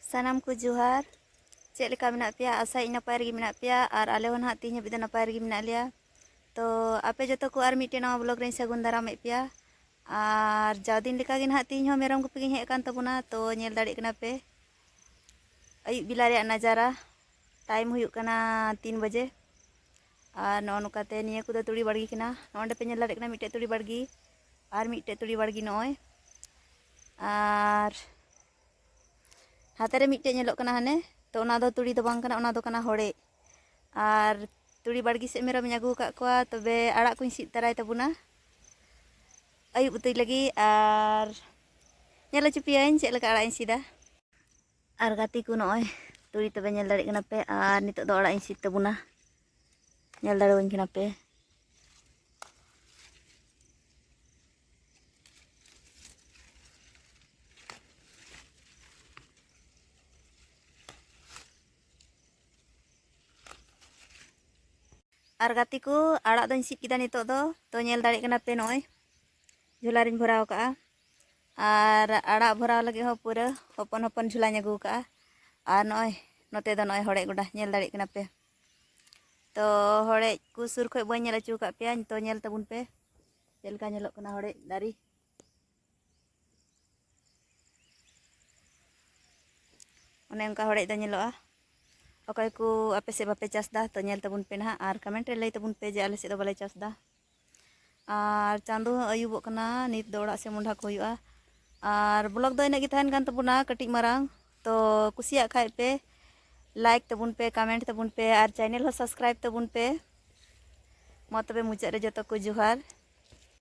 ᱥᱟᱱᱟᱢ ᱠᱚ ᱡᱚᱦᱟᱨ ᱪᱮᱫ ᱞᱮᱠᱟ ᱢᱮᱱᱟᱜ ᱯᱮᱭᱟ ᱟᱥᱟᱭᱤᱧ ᱱᱟᱯᱟᱭ ᱨᱮᱜᱮ ᱢᱮᱱᱟᱜ ᱯᱮᱭᱟ ᱟᱨ ᱟᱞᱮ ᱦᱚᱸ ᱱᱟᱦᱟᱜ ᱛᱮᱦᱮᱧ ᱦᱟᱹᱵᱤᱡ ᱫᱚ ᱱᱟᱯᱟᱭ ᱨᱮᱜᱮ ᱢᱮᱱᱟᱜ ᱞᱮᱭᱟ ᱛᱚ ᱟᱯᱮ ᱡᱚᱛᱚ ᱠᱚ ᱟᱨ ᱢᱤᱫᱴᱮᱱ ᱱᱟᱣᱟ ᱵᱞᱚᱜᱽ ᱨᱮᱧ ᱥᱟᱹᱜᱩᱱ ᱫᱟᱨᱟᱢᱮᱫ ᱯᱮᱭᱟ ᱟᱨ ᱡᱟᱣ ᱫᱤᱱ ᱞᱮᱠᱟ ᱜᱮ ᱱᱟᱦᱟᱜ ᱛᱮᱦᱮᱧ ᱦᱚᱸ ᱢᱮᱨᱚᱢ ᱜᱩᱯᱤ ᱜᱤᱧ ᱦᱮᱡ ᱟᱠᱟᱱ ᱛᱟᱵᱚᱱᱟ ᱛᱚ ᱧᱮᱞ ᱫᱟᱲᱮᱭᱟᱜ ᱠᱟᱱᱟ ᱯᱮ ᱟᱹᱭᱩᱵ ᱵᱮᱞᱟ ᱨᱮᱭᱟᱜ ᱱᱟᱡᱟᱨᱟ ᱴᱟᱭᱤᱢ ᱦᱩᱭᱩᱜ ᱠᱟᱱᱟ ᱛᱤᱱ ᱵᱟᱡᱮ ᱟᱨ ᱱᱚᱜᱼᱚ ᱱᱚᱝᱠᱟᱛᱮ ᱱᱤᱭᱟᱹ ᱠᱚᱫᱚ ᱛᱩᱲᱤ ᱵᱟᱲᱜᱮ ᱠᱟᱱᱟ ᱱᱚᱜᱼᱚ ᱱᱚᱸᱰᱮ ᱯᱮ ᱧᱮᱞ ᱫᱟᱲᱮᱭᱟᱜ ᱠᱟᱱᱟ ᱢᱤᱫᱴᱮᱱ ᱛᱩᱲᱤ ᱵᱟᱲᱜᱮ ᱟᱨ ᱢᱤᱫᱴᱮᱱ ᱛᱩᱲᱤ ᱵᱟᱲᱜᱮ ᱱᱚᱜᱼᱚᱭ ᱟᱨ ᱦᱟᱛᱮ ᱨᱮ ᱢᱤᱫᱴᱮᱱ ᱧᱮᱞᱚᱜ ᱠᱟᱱᱟ ᱦᱟᱱᱮ ᱛᱚ ᱚᱱᱟ ᱫᱚ ᱛᱩᱲᱤ ᱫᱚ ᱵᱟᱝ ᱠᱟᱱᱟ ᱚᱱᱟ ᱫᱚ ᱠᱟᱱᱟ ᱦᱚᱲᱮᱡ ᱟᱨ ᱛᱩᱲᱤ ᱵᱟᱲᱜᱮ ᱥᱮᱫ ᱢᱮᱨᱚᱢᱤᱧ ᱟᱹᱜᱩ ᱟᱠᱟᱫ ᱠᱚᱣᱟ ᱛᱚᱵᱮ ᱟᱲᱟᱜ ᱠᱚᱧ ᱥᱤᱫ ᱛᱟᱨᱟᱭ ᱛᱟᱵᱚᱱᱟ ᱟᱹᱭᱩᱵ ᱩᱛᱩᱭ ᱞᱟᱹᱜᱤᱫ ᱟᱨ ᱧᱮᱞ ᱦᱚᱪᱚ ᱯᱮᱭᱟᱹᱧ ᱪᱮᱫ ᱞᱮᱠᱟ ᱟᱲᱟᱜ ᱤᱧ ᱥᱤᱫᱟ ᱟᱨ ᱜᱟᱛᱮ ᱠᱚ ᱱᱚᱜᱼᱚᱭ ᱛᱩᱲᱤ ᱛᱚᱵᱮ ᱧᱮᱞ ᱫᱟᱲᱮᱭᱟᱜ ᱠᱟᱱᱟ ᱯᱮ ᱟᱨ ᱱᱤᱛᱚᱜ ᱫᱚ ᱚᱲᱟᱜ ᱤᱧ ᱥᱤᱫ ᱛᱟᱵᱚᱱᱟ ᱧᱮᱞ ᱫᱟᱲᱮᱣᱟᱹᱧ ᱠᱟᱱᱟ ᱯᱮ ᱟᱨ ᱜᱟᱛᱮ ᱠᱚ ᱟᱲᱟᱜ ᱫᱚᱧ ᱥᱤᱫ ᱠᱮᱫᱟ ᱱᱤᱛᱚᱜ ᱫᱚ ᱛᱚ ᱧᱮᱞ ᱫᱟᱲᱮᱭᱟᱜ ᱠᱟᱱᱟ ᱯᱮ ᱱᱚᱜᱼᱚᱭ ᱡᱷᱚᱞᱟ ᱨᱤᱧ ᱵᱷᱚᱨᱟᱣ ᱠᱟᱜᱼᱟ ᱟᱨ ᱟᱲᱟᱜ ᱵᱷᱚᱨᱟᱣ ᱞᱟᱹᱜᱤᱫ ᱦᱚᱸ ᱯᱩᱨᱟᱹ ᱦᱚᱯᱚᱱ ᱦᱚᱯᱚᱱ ᱡᱷᱩᱞᱟᱧ ᱟᱹᱜᱩ ᱠᱟᱜᱼᱟ ᱟᱨ ᱱᱚᱜᱼᱚᱭ ᱱᱚᱛᱮ ᱫᱚ ᱱᱚᱜᱼᱚᱭ ᱦᱚᱲᱮᱡ ᱜᱚᱰᱟ ᱧᱮᱞ ᱫᱟᱲᱮᱭᱟᱜ ᱠᱟᱱᱟ ᱯᱮ ᱛᱚ ᱦᱚᱲᱮᱡ ᱠᱚ ᱥᱩᱨ ᱠᱷᱚᱡ ᱵᱟᱹᱧ ᱧᱮᱞ ᱦᱚᱪᱚ ᱟᱠᱟᱫ ᱯᱮᱭᱟ ᱛᱚ ᱧᱮᱞ ᱛᱟᱵᱚᱱ ᱯᱮ ᱪᱮᱫ ᱞᱮᱠᱟ ᱧᱮᱞᱚᱜ ᱠᱟᱱᱟ ᱦᱚᱲᱮᱡ ᱫᱟᱨᱮ ᱚᱱᱮ ᱚᱱᱠᱟ ᱦᱚᱲᱮᱡ ᱫᱚ ᱧᱮᱞᱚᱜᱼᱟ ᱚᱠᱚᱭ ᱠᱚ ᱟᱯᱮ ᱥᱮᱫ ᱵᱟᱯᱮ ᱪᱟᱥᱫᱟ ᱛᱚ ᱧᱮᱞ ᱛᱟᱵᱚᱱ ᱯᱮ ᱱᱟᱦᱟᱜ ᱟᱨ ᱠᱚᱢᱮᱱᱴ ᱨᱮ ᱞᱟᱹᱭ ᱛᱟᱵᱚᱱ ᱯᱮ ᱡᱮ ᱟᱞᱮ ᱥᱮᱫ ᱫᱚ ᱵᱟᱞᱮ ᱪᱟᱥᱫᱟ ᱟᱨ ᱪᱟᱸᱫᱚ ᱦᱚᱸ ᱟᱹᱭᱩᱵᱚᱜ ᱠᱟᱱᱟ ᱱᱤᱛ ᱫᱚ ᱚᱲᱟᱜ ᱥᱮᱫ ᱢᱚᱦᱰᱟ ᱠᱚ ᱦᱩᱭᱩᱜᱼᱟ ᱟᱨ ᱵᱞᱚᱜᱽ ᱫᱚ ᱤᱱᱟᱹᱜ ᱜᱮ ᱛᱟᱦᱮᱱ ᱠᱟᱱ ᱛᱟᱵᱚᱱᱟ ᱠᱟᱹᱴᱤᱡ ᱢᱟᱨᱟᱝ ᱛᱚ ᱠᱩᱥᱤᱭᱟᱜ ᱠᱷᱟᱡ ᱯᱮ ᱞᱟᱭᱤᱠ ᱛᱟᱵᱚᱱ ᱯᱮ ᱠᱟᱢᱮᱱᱴ ᱛᱟᱵᱚᱱ ᱯᱮ ᱟᱨ ᱪᱮᱱᱮᱞ ᱦᱚᱸ ᱥᱟᱵᱥᱠᱨᱟᱭᱤᱵᱽ ᱛᱟᱵᱚᱱ ᱯᱮ ᱢᱟ ᱛᱚᱵᱮ ᱢᱩᱪᱟᱹᱫ ᱨᱮ ᱡᱚᱛᱚ ᱠᱚ ᱡᱚᱦᱟᱨ